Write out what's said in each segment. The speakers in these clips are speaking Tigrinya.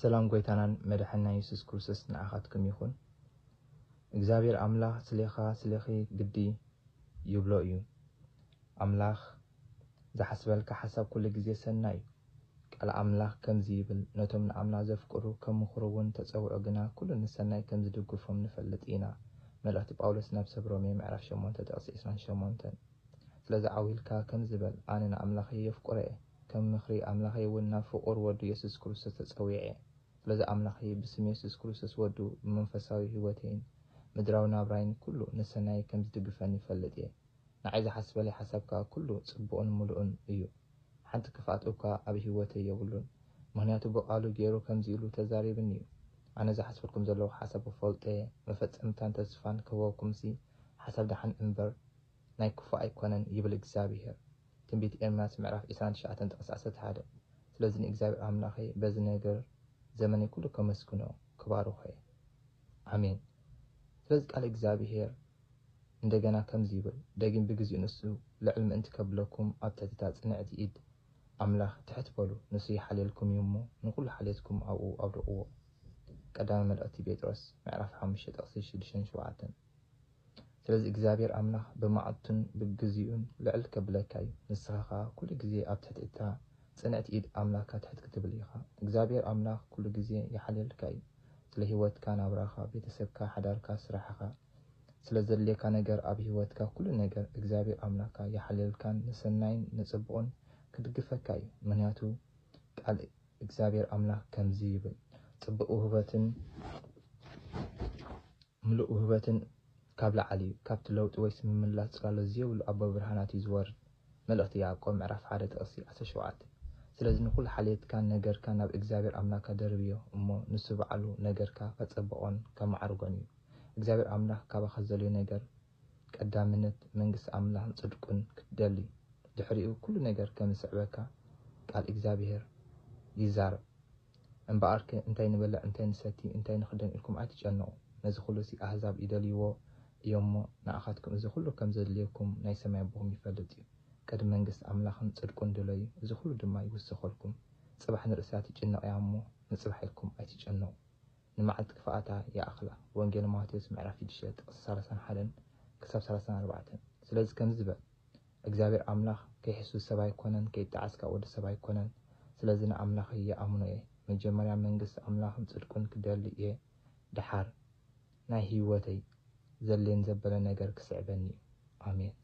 ሰላም ጎይታናን መዳሕንና የሱስ ኩርሱስ ንዓኻትኩም ይኹን እግዚኣብሔር ኣምላኽ ስሌኻ ስሌኺ ግዲ ይብሎ እዩ ኣምላኽ ዝሓስበልካ ሓሳብ ኩሉ ግዜ ሰናይ እዩ ቃል ኣምላኽ ከምዚ ይብል ነቶም ንኣምላ ዘፍቅሩ ከም ምኽሩ እውን ተጸውዑ ግና ኩሉ ንሰናይ ከም ዝድግፎም ንፈልጥ ኢና መልእኽቲ ጳውሎስ ናብ ሰብ ሮሜ ምዕራፍ ሸሞንተ ጥቕሲ ዕስራን ሸሞንተን ስለዚ ዓው ኢልካ ከምዚ በል ኣነ ንኣምላኸይ የፍቅሮ እየ ከም ምኽሪ ኣምላኸይ እውን ናብ ፍቑር ወዱ የሱስ ክርስቶስ ተጸዊዔ። ስለዚ ኣምላኸይ ብስም የሱስ ክርስቶስ ወዱ ብመንፈሳዊ ህይወተይን ምድራዊ ናብራይን ኩሉ ንሰናየይ ከም ዝድግፈኒ ይፈልጥ እየ። ንዓይ ዝሓስበለይ ሓሳብ ከኣ ኩሉ ጽቡቕን ምሉእን እዩ። ሓንቲ ክፍኣት እኳ ኣብ ህይወተይ የብሉን። ምኽንያቱ ብቃሉ ገይሩ ከምዚ ኢሉ ተዛሪብኒ እዩ። ኣነ ዝሓስበልኩም ዘለኹ ሓሳብ እፈልጦ እየ፣ መፈጸምታን ተስፋን ክህበኩምሲ ሓሳብ ደሓን እምበር፣ ናይ ክፉእ ኣይኮነን ይብል እግዚኣብሄር። ትንቢት ኤርምያስ ምዕራፍ ዕስራን ትሽዓተን ጥቅሲ ዓሰርተ ሓደ ስለዚ ንእግዚኣብሄር ኣምላኸይ በዚ ነገር ዘመነይ ኩሉ ከመስግኖ ክባርኾየ ኣሜን ስለዚ ቃል እግዚኣብሄር እንደገና ከምዚ ይብል ደጊም ብግዚኡ ንሱ ልዕል ምእንቲ ከብለኩም ኣብ ትሕቲ እታ ጽንዕቲ ኢድ ኣምላኽ ትሕት በሉ ንሱ ይሓልየልኩም እዩ እሞ ንኩሉ ሓልየትኩም ኣብኡ ኣውድቅዎ ቀዳማይ መልእኽቲ ጴጥሮስ ምዕራፍ ሓሙሽተ ጥቅሲ ሽዱሽተን ሸውዓተን ስለዚ እግዚኣብሔር ኣምላኽ ብመዓልቱን ብግዜኡን ልዕል ከብለካ እዩ። ንስኻ ከኣ ኩሉ ግዜ ኣብ ትሕቲ እታ ጽንዕቲ ኢድ ኣምላካ ትሕት ክትብል ኢኻ። እግዚኣብሔር ኣምላኽ ኩሉ ግዜ ይሓልየልካ እዩ። ስለ ሕይወትካ፣ ናብራኻ፣ ቤተሰብካ፣ ሓዳርካ፣ ስራሕኻ፣ ስለ ዘድልየካ ነገር ኣብ ሕይወትካ ኩሉ ነገር እግዚኣብሔር ኣምላካ ይሓልየልካን ንሰናይን ንጽቡቕን ክድግፈካ እዩ። ምክንያቱ ቃል እግዚኣብሔር ኣምላኽ ከምዚ ይብል ጽቡቕ ውህበትን፣ ምሉእ ውህበትን ካብ ላዕሊ እዩ፣ ካብቲ ለውጢ ወይስ ምምላስ ጽላሎት ዝየብሉ ኣቦ ብርሃናት እዩ ዝወርድ፣ መልእኽቲ ያዕቆብ ምዕራፍ ሓደ ጥቕሲ ዓሰርተ ሸውዓተ። ስለዚ ንኹሉ ሓልየትካን ነገርካን ናብ እግዚኣብሔር ኣምላካ ደርብዮ እሞ ንሱ ባዕሉ ነገርካ ከጸብቆን ከማዕርጎን እዩ። እግዚኣብሔር ኣምላክ ካባካ ዝደልዮ ነገር ቀዳምነት መንግስቲ ኣምላክን ጽድቁን ክትደሊ ድሕሪኡ ኩሉ ነገር ከምዝስዕበካ ቃል እግዚኣብሔር ይዛረብ። እምበኣርከ እንታይ ንበልዕ እንታይ ንሰቲ እንታይ ንኽደን ኢልኩም ኣይትጨነቑ፣ ነዚ ዅሉሲ ኣህዛብ ይደልይዎ እዮምሞ፣ ንኣኻትኩም እዚ ዅሉ ከም ዜድልየኩም ናይ ሰማይ ኣቦኹም ይፈልጥ እዩ። ቅድሚ መንግስቲ ኣምላኽን ጽድቁን ድለዩ፣ እዚ ዅሉ ድማ ይውሰኸልኩም። ጽባሕ ንርእሳ ትጭነቕ እያ እሞ፣ ንጽባሕ ኢልኩም ኣይትጨነቑ። ንመዓልቲ ክፍኣታ ይኣኽላ። ወንጌል ማቴዎስ ምዕራፍ ሽዱሽተ ጥቕሲ ሰላሳን ሓደን ክሳብ ሰላሳን ኣርባዕተን ስለዚ ከምዚ በል፣ እግዚኣብሔር ኣምላኽ ከይሕሱ ሰብ ኣይኮነን ከይጣዓስ ካኣ ወዲ ሰብ ኣይኮነን ስለዚ ንኣምላኸይ ይኣምኖ እየ መጀመርያ መንግስቲ ኣምላኽን ጽድቁን ክደሊ እየ ድሓር ናይ ሂወተይ ዘድልየን ዘበለ ነገር ክስዕበኒ እዩ ኣሜን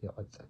ይቅጽል።